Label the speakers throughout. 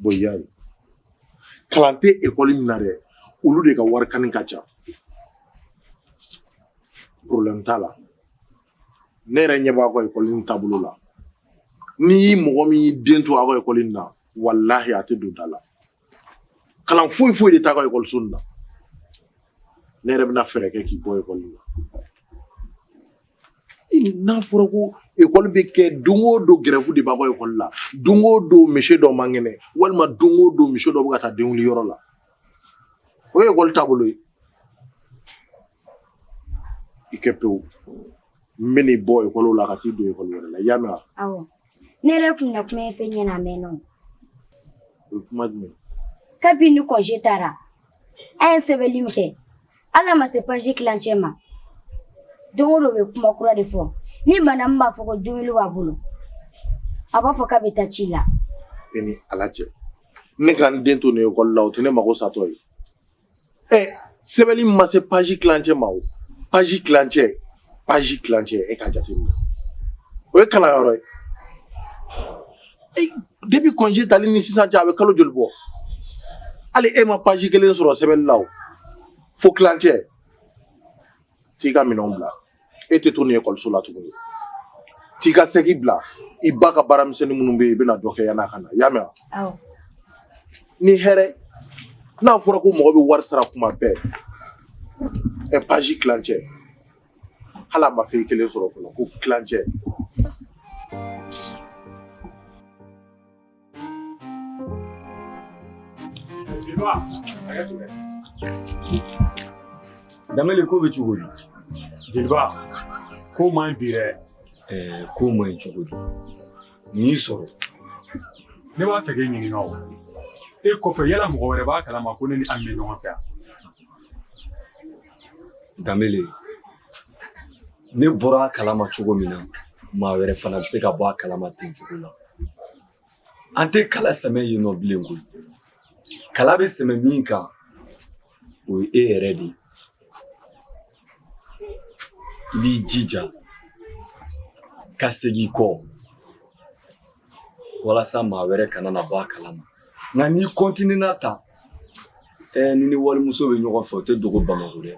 Speaker 1: Bon y'a ye kalan tɛ ekɔli min na dɛ olu de ka wari kani ka ca problème t'a la ne yɛrɛ ɲɛ b'a ka ekɔli nin taabolo la ni mɔgɔ min y'i den to aw ka ekɔli nin na walahi a tɛ don da la Kalan foyi foyi de t'a ka ekɔliso in na ne yɛrɛ bɛna fɛɛrɛ kɛ k'i bɔ ekɔli la n'a fɔra ko ekɔli bɛ kɛ don o don gɛrɛfu de b'a ka ekɔli la don o don monsieur dɔ man kɛnɛ walima don o don monsieur dɔ bɛ ka taa denkundi yɔrɔ la o ye ekɔli taabolo ye i kɛ pewu n bɛn'i bɔ ekɔli la ka t'i don ekɔli wɛrɛ la i y'a mɛn Ne
Speaker 2: yɛrɛ kun na kuma in fɔ i ɲɛ na a mɛnna o. O
Speaker 1: ye kuma jumɛn ye? Kabini
Speaker 2: kɔnje taara an ye sɛbɛnni min kɛ hali a ma se paji kilancɛ ma don o don bɛ kuma kura de fɔ ni bana min b'a fɔ ko dumuni b'a bolo a b'a fɔ k'a bɛ taa ci la. E ni ala
Speaker 1: cɛ ne ka n den to nin ekɔli la o tɛ ne mago satɔ ye ɛ sɛbɛnni ma se paji kilancɛ ma o paji kilancɛ paji kilancɛ e ka jateminɛ o ye kalanyɔrɔ ye depi kɔnje tali ni sisan cɛ a bɛ kalo joli bɔ hali e ma paji kelen sɔrɔ sɛbɛnni la o fo kilancɛ t'i ka minɛnw bila e tɛ to nin ekɔliso la tuguni t'i ka saki bila i ba ka baaramisɛnnin minnu bɛ yen i bɛna dɔ kɛ yann'a ka na i y'a mɛn wa ni hɛrɛ n'a fɔra ko mɔgɔ bɛ wari sara kuma bɛɛ ɛ paji tilancɛ hali a ma fɛn kelen sɔrɔ fɔlɔ ko kilancɛ
Speaker 3: Danbele ko bɛ cogo di? Jeliba,
Speaker 4: ko man ɲi bi dɛ. Ɛɛ ko man
Speaker 3: ɲi cogo di? Mun y'i
Speaker 4: sɔrɔ? Ne b'a fɛ k'e ɲininka o. E kɔfɛ yala mɔgɔ wɛrɛ b'a kalama ko ne ni Ami bɛ ɲɔgɔn fɛ wa?
Speaker 3: Danbele. Ne bɔra a kalama cogo min na maa wɛrɛ fana bɛ se ka bɔ a kalama ten cogo la an tɛ kala sɛmɛ yen nɔ bilen koyi kala bɛ sɛmɛ min kan o ye e yɛrɛ de ye i b'i jija ka segin kɔ walasa maa wɛrɛ kana na bɔ a kalama nka n'i kɔntininna tan ɛɛ n'i ni walimuso bɛ ɲɔgɔn fɛ o tɛ dogo bamakɔ dɛ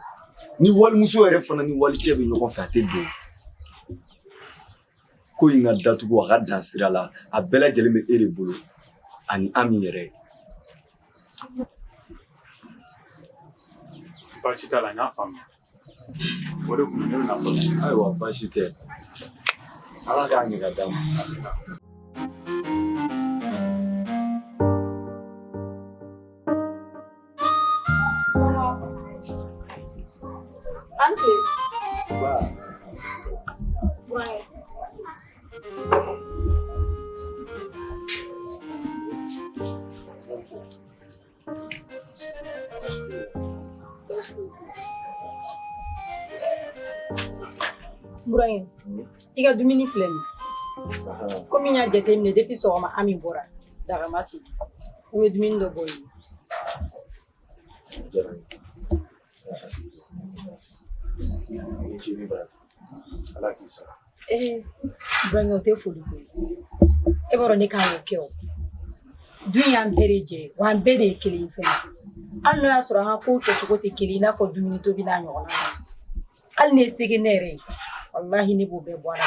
Speaker 3: ni walimuso yɛrɛ fana ni walicɛ bɛ ɲɔgɔn fɛ a tɛ dogo ko in ka datugu a ka dan sira la a bɛɛ lajɛlen bɛ e de bolo ani Ami yɛrɛ
Speaker 4: baasi t'a la n y'a faamuya o de kun ne bɛna fɔ ayiwa baasi
Speaker 3: tɛ ala k'a ɲɛ ka d'an ma
Speaker 5: Burahin, i ka dumuni filɛ nin komi n y'a jateminɛ depi sɔgɔma Ami bɔra daga ma sigi n bɛ dumuni dɔ bɔ i ye ala k'i sara ee burankɛ o tɛ foli ko ye e b'a dɔn ne kan k'o kɛ o dun y'an bɛɛ de jɛ ye wa an bɛɛ de ye kelen ye fɛnɛ hali n'o y'a sɔrɔ an ka kow kɛcogo tɛ kelen ye i n'a fɔ dumuni tobi n'a ɲɔgɔnna hali ne ye sɛgɛnnen yɛrɛ ye walahi ne b'o bɛɛ bɔ a la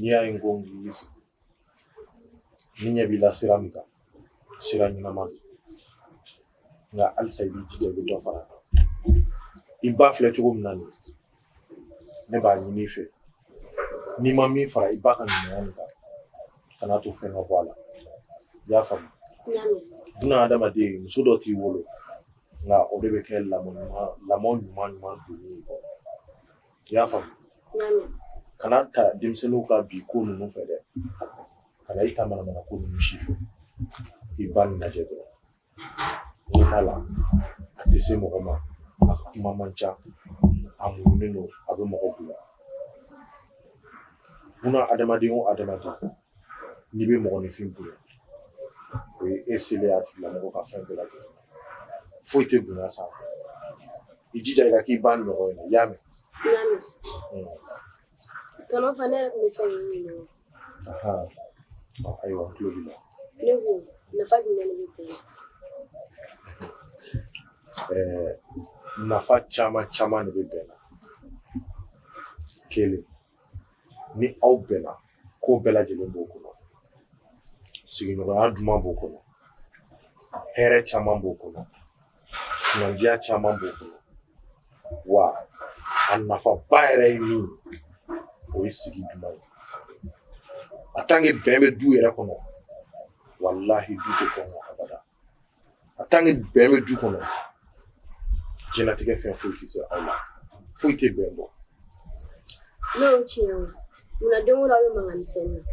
Speaker 1: N'i y'a ye n ko n k'i sigi nin y'a bila sira min kan sira ɲɛnama don nka halisa i b'i jija i bɛ dɔ fara i ba filɛ cogo min na nin ne b'a ɲini i fɛ n'i ma min fara i ba ka ɲumanya nin kan kana to fɛn ka bɔ a la i y'a faamu buna adamaden muso dɔ t'i wolo nka o de bɛ kɛ lamɔ ɲuman lamɔ ɲuman ɲuman donni ye i y'a faamu kana ta denmisɛnninw ka bi ko ninnu fɛ dɛ kana i ta manamana ko ninnu si fɛ i ba nin lajɛ dɔrɔn t'a la a tɛ se mɔgɔ ma a ka kuma man ca a muɲunen don a bɛ mɔgɔ bonya buna adamaden o adamaden n'i bɛ mɔgɔninfin bonya o ye e selen a tigilamɔgɔ ka fɛn bɛɛ lajɛlen foyi tɛ bonya sanfɛ i jija i ka k'i ba ɲɔgɔn ye i y'a mɛn
Speaker 6: Tɔnɔ fana ne yɛrɛ tun b'a fɛ k'i ɲininka o la, anhan,
Speaker 1: ɔ ayiwa n tulo b'i la, ne ko nafa
Speaker 6: jumɛn de bɛ bɛn na? ɛɛ
Speaker 1: nafa caman caman de bɛ bɛn na, kelen ni aw bɛnna ko bɛɛ lajɛlen b'o kɔnɔ, sigiɲɔgɔnya duman b'o kɔnɔ, hɛrɛ caman b'o kɔnɔ kunandiya caman b'o kɔnɔ wa a nafaba yɛrɛ ye min o ye sigi duman ye en tant que bɛn bɛ du yɛrɛ kɔnɔ walahi du tɛ kɔngɔ abada en tant que bɛn bɛ du kɔnɔ diɲɛnatigɛ fɛn foyi tɛ se aw la foyi tɛ bɛn bɔ
Speaker 6: n'o ye tiɲɛ ye munna don o don aw bɛ mankan misɛnnin na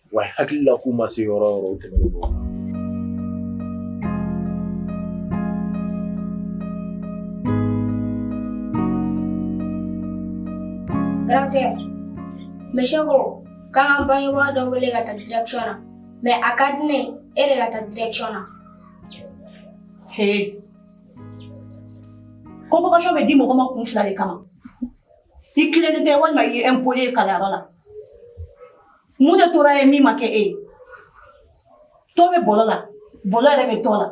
Speaker 1: wa hakili la k'u ma se yɔrɔ yɔrɔ o tɛmɛnen
Speaker 2: don Gracias. Monsieur ko k'an bangebaa dɔ wele ka taa direction na mais a ka di ne ye e de ka taa direction na.
Speaker 5: He. Convocation bɛ di mɔgɔ ma kun fila de kama. I tilennen tɛ walima i ye impoli ye kalanyɔrɔ la. Mun de tora ye min ma kɛ e ye to bɛ bolo la bolo yɛrɛ bɛ to la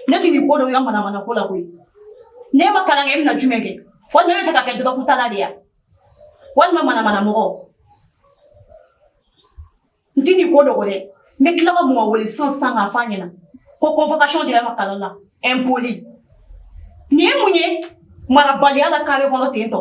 Speaker 5: ne tɛ nin ko dɔn i ka manamana ko la koyi n'e ma kalan e bɛna na jumɛn kɛ walima e bɛ fɛ ka kɛ dɔrɔgutala de ye walima manamana mɔgɔ n tɛ nin ko dɔn dɛ n bɛ tila ka mɔgɔ wele sisan k'a f'a ɲɛna ko convocation dira e ma kalan la impoli nin ye mun ye marabaliya la kare kɔnɔ tentɔ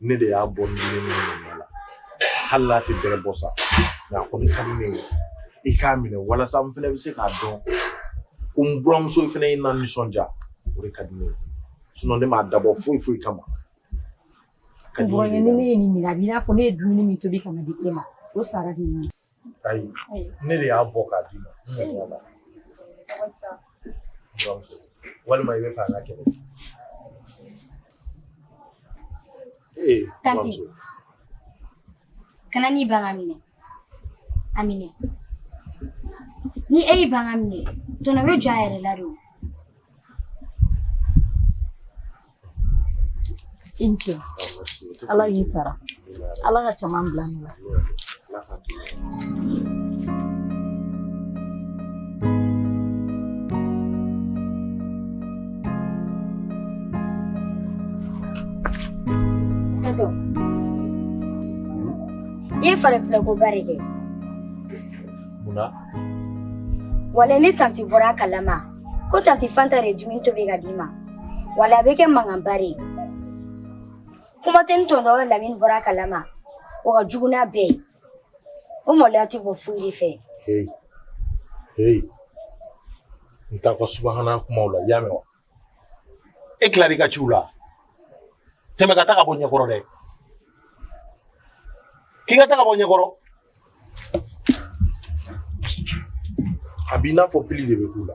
Speaker 1: ne de y'a bɔ ne ne la hali n'a tɛ bɛrɛ bɔ sa nka a kɔni ka di ne ye i k'a minɛ walasa n fana bɛ se k'a dɔn ko n buramuso fana ye n na nisɔndiya o de ka di ne ye sinɔn ne m'a dabɔ foyi foyi
Speaker 5: kama ka di ne ye. Buran ni ne ye nin minɛ a b'i n'a fɔ ne ye dumuni min tobi ka na di e ma o sara de ye nin ye.
Speaker 1: ayi ne de y'a bɔ k'a d'i ma walima i bɛ fɛ an ka kɛlɛ
Speaker 2: tanti kana n'i ban k'a minɛ a minɛ ni e y'i ban k'a minɛ tɔnɔ bɛ jɔ a yɛrɛ la de o
Speaker 5: I ni ce Ala k'i sara Ala ka caman bila a nɔ
Speaker 2: la. I ye faratikoba de kɛ.
Speaker 1: Munna?
Speaker 2: Wala ni tanti bɔra a kalama. ko tanti fanta de ye dumuni tobi ka d'i ma wala a bɛ kɛ mankanba de ye kuma tɛ ni tɔntɔn lamini bɔra a kalama o ka jugu n'a bɛɛ ye o maloya tɛ bɔ foyi de fɛ
Speaker 1: hey hey n t'a ka subahana kumaw la i y'a mɛn wa e tilara i ka ciw la tɛmɛ ka taa ka bɔ ɲɛkɔrɔ dɛ k'i ka taa ka bɔ ɲɛkɔrɔ A b'i n'a fɔ pili de bɛ k'u la.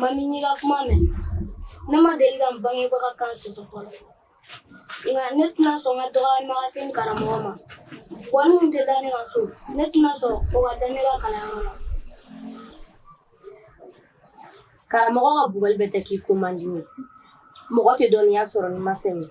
Speaker 6: Mami n y'i ka kuma mɛn ne ma deli ka n bangebaga kan sɔsɔ fɔlɔ nka ne tɛna sɔn ka dɔgɔyama ka se n karamɔgɔ ma wa ni min tɛ da ne kan so ne tɛna sɔn o ka da ne kan kalanyɔrɔ la karamɔgɔ ka bugɔli bɛɛ tɛ k'i ko man di mɔgɔ tɛ dɔnniya sɔrɔ n'i ma sɛgɛn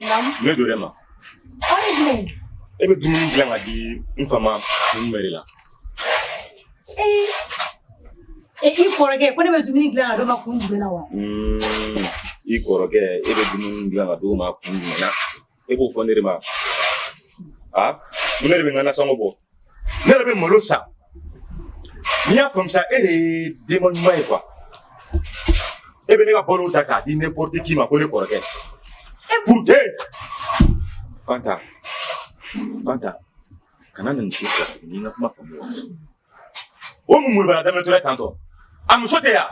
Speaker 7: Mun donna e
Speaker 5: ma e bɛ dumuni
Speaker 7: dilan ka di n fa ma mun de la e k'i
Speaker 5: kɔrɔkɛ ko ne bɛ dumuni dilan ka d'o ma kun jumɛn
Speaker 7: na wa i kɔrɔkɛ e bɛ dumuni dilan ka d'o ma kun jumɛn na e b'o fɔ ne de ma a ne de bɛ n ka nasɔngɔ bɔ ne yɛrɛ bɛ malo san n'i y'a faamu sa e de ye denba ɲuman ye quoi e bɛ ne ka balo ta k'a di n'importe qui ma ko ne kɔrɔkɛ e purute fanta fanta kana na nin se fila tuguni n ka kuma faamu wa o mun mun b'a la daminɛ tora tantɔ a muso tɛ yan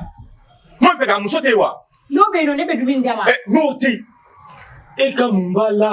Speaker 7: n b'a fɛ k'a muso tɛ yen wa n'o bɛ yen nɔ ne bɛ
Speaker 5: dumuni d'a ma n'o tɛ
Speaker 7: yen e ka mun b'a la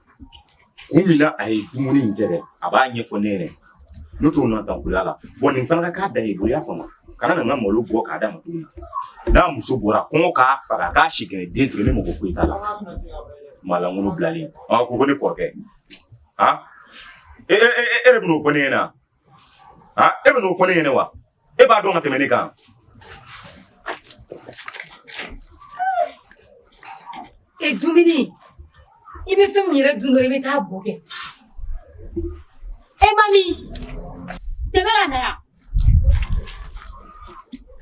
Speaker 7: kun min na a ye dumuni in kɛ dɛ a b'a ɲɛfɔ ne ye dɛ n'o t'o na dankuya la bon nin fana ka k'a dan ye i bolo i y'a faamu kana na n ka malo bɔ k'a d'a ma tuguni n'a muso bɔra kɔngɔ k'a faga k'a si kɛnɛ den tigɛ ne mago foyi t'a la maalankolon bilalen a ko ko ne kɔrɔkɛ a e e e de bɛn'o fɔ ne ɲɛna e bɛn'o fɔ ne ɲɛna wa e b'a dɔn ka tɛmɛ ne
Speaker 5: kan e dumuni i bɛ fɛn min yɛrɛ dun dɔrɔn i bɛ taa bo kɛ e Mami tɛmɛ ka na yan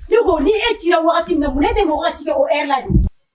Speaker 5: ne ko ni e cira wagati min na mun ne tɛ mɔgɔ ka ci kɛ o ɛri la dɛ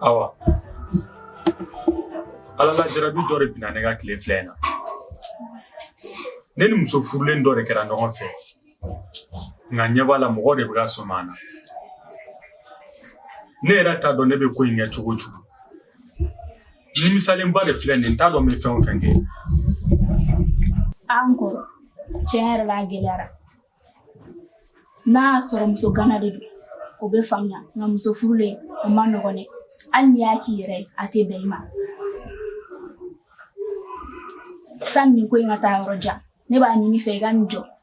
Speaker 4: Awa Ala la jarabi dɔ de binna ne kan tile fila in na ne ni muso furulen dɔ de kɛra ɲɔgɔn fɛ nka ɲɛ b'a la mɔgɔ de bɛ ka sɔmi an na ne yɛrɛ t'a dɔn ne bɛ ko in kɛ cogo cogo Nimisalenba de filɛ nin n t'a dɔn n bɛ fɛn o fɛn kɛ
Speaker 8: an kɔrɔ tiɲɛ yɛrɛ la a gɛlɛyara n'a y'a sɔrɔ muso gana de don o bɛ faamuya nka muso furulen o man nɔgɔn dɛ hali n'i y'a k'i yɛrɛ ye a tɛ bɛn i ma sani nin ko in ka taa yɔrɔ jan ne b'a ɲini i fɛ i ka nin jɔ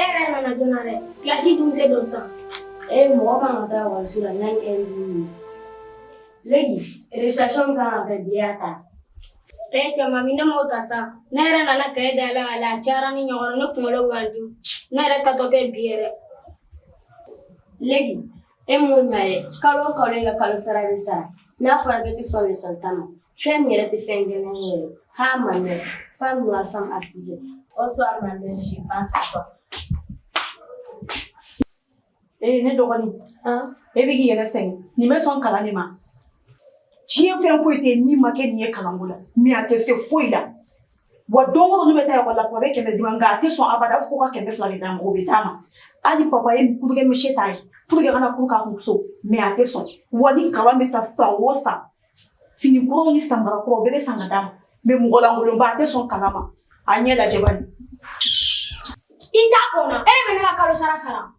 Speaker 6: e yɛrɛ nana joona dɛ kilasi dun tɛ don sa e mɔgɔ kan
Speaker 2: ka taa ekɔliso la yanni ɛri duuru legi récitation kan ka kɛ bi i y'a ta e cɛ
Speaker 6: mami ne m'o ta sa ne yɛrɛ nana kaye dayɛlɛ k'a lajɛ a cayara ni ɲɔgɔn ne kunkolo ka n dimi ne yɛrɛ taatɔ tɛ bi yɛrɛ
Speaker 2: legi E m'o ɲɛ ye kalo o kalo e ka kalo sara bɛ sara n'a fɔra k'e tɛ sɔn leçon ta ma fɛn min yɛrɛ tɛ fɛn gɛlɛn ye yɛrɛ à ma mère femme noire femme africaine ô toi ma mère je pense à toi
Speaker 5: ee ne dɔgɔnin e bɛ k'i yɛrɛ sɛgɛn nin bɛ sɔn kalan de ma diɲɛ fɛn foyi tɛ yen min ma kɛ nin ye kalanko la mais a tɛ se foyi la Wa don o don ne bɛ taa école la papa bɛ kɛmɛ di ne ma nka a tɛ sɔn abada a b'a fɔ ko ka kɛmɛ fila de d'a ma o bɛ d'a ma hali papa ye cours kɛ monsieur ta a ye pour que a ka na cours k'a kun so mais a tɛ sɔn wa ni kalan bɛ ta san o san fini kuraw ni samara kuraw bɛɛ bɛ san ka d'a ma mais mɔgɔ lankolonba a tɛ sɔn kalan ma a ɲɛ lajɛ bani
Speaker 6: i t'a kɔnɔ e de bɛ ne ka kalo sara sara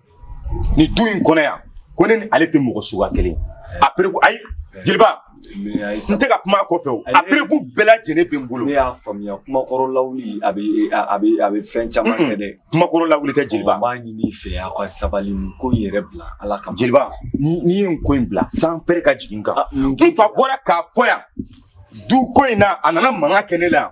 Speaker 7: nin du in kɔnɔ yan ko ne ni ale tɛ mɔgɔ suguya kelen a preuve ayi jeliba n tɛ ka kuma a kɔfɛ o a preuve bɛɛ lajɛlen bɛ n bolo ne y'a faamuya kumakɔrɔ
Speaker 3: lawuli a bɛ a bɛ a bɛ fɛn caman kɛ dɛ kumakɔrɔ lawuli tɛ
Speaker 7: jeliba n b'a ɲini i fɛ
Speaker 3: aw ka sabali nin ko in yɛrɛ bila ala kama jeliba n'i ye
Speaker 7: nin ko in bila sanpɛrɛn ka jigin n kan n fa bɔra k'a fɔ yan du ko in na a nana mankan kɛ ne la yan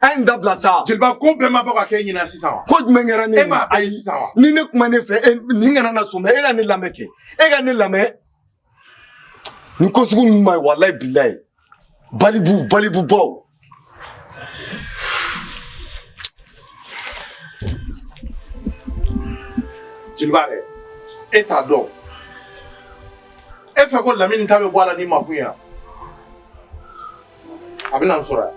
Speaker 3: A ye n dabila sa jeliba ko bɛɛ ma bɔ
Speaker 1: ka kɛ e ɲɛna sisan wa ko jumɛn kɛra ne e ma
Speaker 3: a ye sisan wa ni
Speaker 1: ne kumana e fɛ
Speaker 3: e nin kana na sɔn e ka ne lamɛn kɛ e ka ne lamɛn nin ko sugu ninnu ma ye walayi bilayi balibu balibu baw
Speaker 1: jeliba dɛ e t'a dɔn e fɛ ko lamini ta bɛ bɔ a la ni makun ye a bɛ na n sɔrɔ yan.